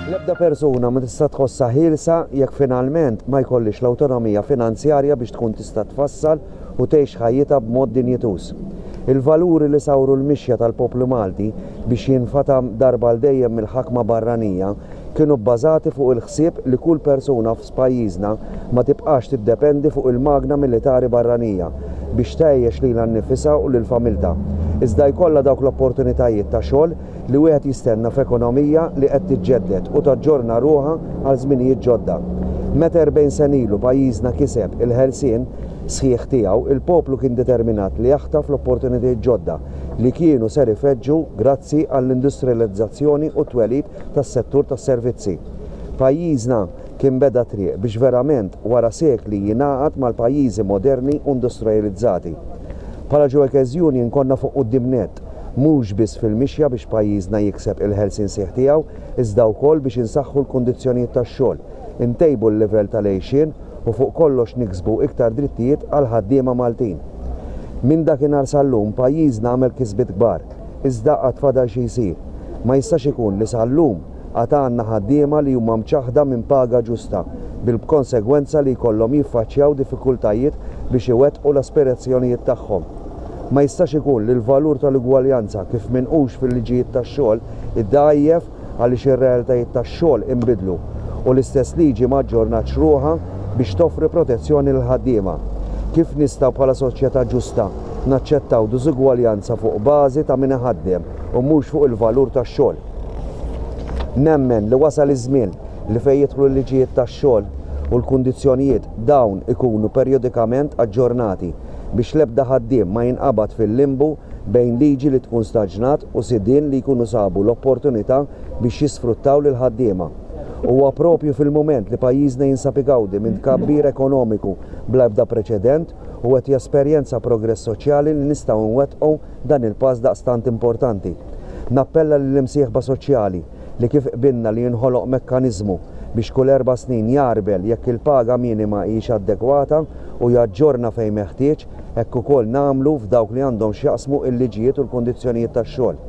L-ebda persuna ma tista' tħossha ħielsa jekk finalment ma jkollhiex l-awtonomija finanzjarja biex tkun tista' tfassal u tgħix ħajjitha b'mod dinjituż. Il-valuri li sawru l-mixja tal-poplu Malti biex jinfatam darba għal dejjem mill-ħakma barranija kienu bbażati fuq il-ħsieb li kull persuna f'pajjiżna ma tibqax tiddependi fuq il-magna militari barranija biex tgħejjex lilha nnifisha u lil familtha, iżda jkollha dawk l-opportunitajiet ta' xogħol li wieħed jistenna f'ekonomija li qed tiġġedded u taġġorna ruħha għal żminijiet ġodda. Meta 40 sena ilu pajjiżna kiseb il-ħelsien sħiħ tiegħu, il-poplu kien determinat li jaħtaf l-opportunitajiet ġodda li kienu ser ifeġġu grazzi għall-industrializzazzjoni u t-twelid tas-settur tas-servizzi. Pajjiżna kien beda triq biex verament wara sekli jingħaqad mal-pajjiżi moderni u industrajalizzati. Bħala Joekes Union konna fuq quddiem nett, mhux biss fil-mixja biex pajjiżna jikseb il-ħelsien sħiħ tiegħu iżda wkoll biex insaħħu l-kundizzjonijiet tax-xogħol, intejbu l-livell tal-għejxien u fuq kollox niksbu iktar drittijiet għall-ħaddiema Maltin. Minn dakinhar sal-lum pajjiżna għamel kisbiet kbar. iżda għad fadal xi jsir. Ma jistax ikun li sal-lum għad għandna ħaddiema li huma mċaħħda minn paga ġusta, bil-b'konsegwenza li jkollhom jiffaċċjaw diffikultajiet biex iwettqu l-aspirazzjonijiet tagħhom. Ma jistax ikun li l-valur tal-ugwaljanza kif minqux fil-liġijiet tax-xogħol iddgħajjef, għaliex ir-realtajiet tax-xogħol inbidlu u l-istess liġi ma aġġornatx ruħha biex toffri protezzjoni lill-ħaddiema. Kif nistgħu bħala soċjetà ġusta naċċettaw diżugwaljanza fuq bażi ta' min iħaddem u mhux fuq il-valur tax-xogħol? Nemmen li wasal iż-żmien li fejn jidħlu l-liġijiet tax-xogħol u l-kundizzjonijiet dawn ikunu perjodikament aġġornati. biex l-ebda ħaddiem ma jinqabad fil-limbu bejn liġi li tkun staġnat u sidien li jkunu sabu l-opportunità biex jisfruttaw lill-ħaddiema. Huwa proprju fil-mument li pajjiżna jinsab igawdi minn tkabbir ekonomiku bla ebda preċedent u qed jesperjenza progress soċjali li nistgħu nwettqu dan il-pass daqstant importanti. Nappella lill-imsieħba soċjali, li kif qbilna li jinħoloq mekkaniżmu biex kull erba' snin jagħrbel jekk il-paga minima hijiex adegwata u jaġġorna fejn meħtieġ, hekk ukoll nagħmlu f'dawk li għandhom x'jaqsmu l-liġijiet u l-kundizzjonijiet tax-xogħol.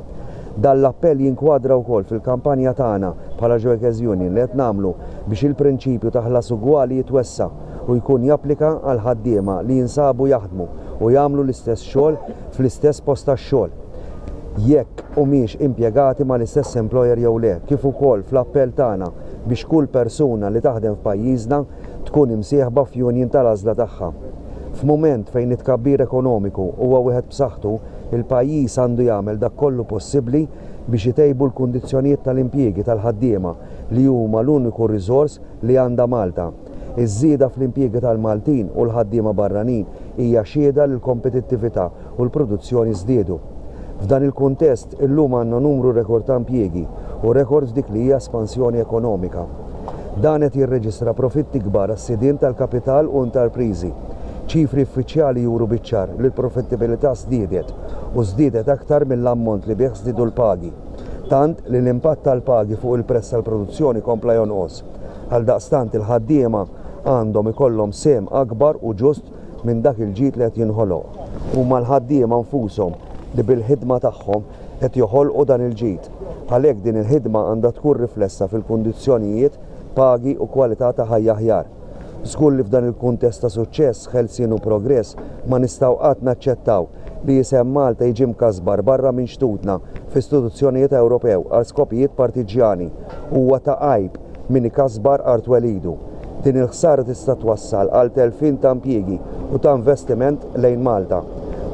Dan l-appell jinkwadra wkoll fil-kampanja tagħna bħala Joekes Union li qed nagħmlu biex il-prinċipju ta' ħlas ugwali jitwessa' u jkun japplika għall-ħaddiema li jinsabu jaħdmu u jagħmlu l-istess xogħol fl-istess post tax-xogħol. jekk humiex impjegati mal-istess employer jew le, kif ukoll fl-appell tagħna biex kull persuna li taħdem f'pajjiżna tkun imsieħba f'union tal-għażla tagħha. F'mument fejn it-tkabbir ekonomiku huwa wieħed b'saħħtu, il-pajjiż għandu jagħmel dak kollu possibbli biex itejbu l-kundizzjonijiet tal-impjiegi tal-ħaddiema li huma l-uniku riżors li għandha Malta. Iż-żieda fl-impjiegi tal-Maltin u l-ħaddiema barranin hija xhieda li l-kompetittività u l-produzzjoni żdiedu. F'dan il-kuntest, illum għandna numru rekord ta' impjiegi u rekord f'dik li hija espansjoni ekonomika. Dan qed jirreġistra profitti kbar għas-sidien tal-kapital u intarpriżi. Ċifri uffiċjali juru biċ-ċar li l-profittibilità żdiedet u żdiedet aktar mill-ammont li bih żdiedu l-pagi, tant li l-impatt tal-pagi fuq il-prezz tal-produzzjoni kompla jonqos. Għaldaqstant il-ħaddiema għandhom ikollhom sehem akbar u ġust minn dak il-ġid li qed jinħoloq. Huma l-ħaddiema nfushom li bil-ħidma tagħhom qed joħolqu dan il-ġid. Għalhekk din il-ħidma għandha tkun riflessa fil-kundizzjonijiet, pagi u kwalità ta' ħajja aħjar. Żgur li f'dan il-kuntest ta' suċċess, ħelsien u progress ma nistgħu qatt naċċettaw li isem Malta jiġi mkasbar barra minn xtutna f'istituzzjonijiet Ewropew għal skopijiet partiġġjani. huwa ta' għajb min ikasbar art welidu. Din il-ħsara tista' twassal għal telfien ta' impjiegi u ta' investiment lejn Malta.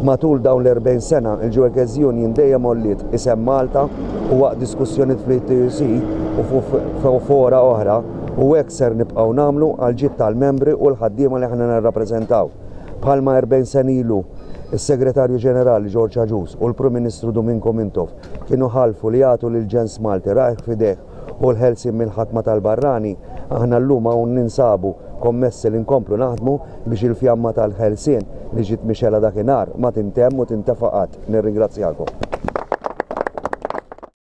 Matul dawn l-40 sena, il-Geueges Union dejjem għolliet isem Malta u waqt diskussjonijiet fl-ETUC u f'fora oħra u hekk ser nibqgħu nagħmlu għall-ġid tal-membri u l-ħaddiema li aħna nirrappreżentaw. Bħalma 40 sena ilu s-Segretarju Ġenerali George Agius u l-Prim Ministru Domingo Mintoff kienu ħalfu li jagħtu lill-ġens Malti rajh f'idejh u l-ħelsien mill-ħakma tal-barrani, aħna llum hawn ninsabu kommessi li nkomplu naħdmu biex il-fjamma tal-ħelsien li ġiet mixgħela dakinhar ma tintemm u tintefa' qatt. Nirringrazzjakom.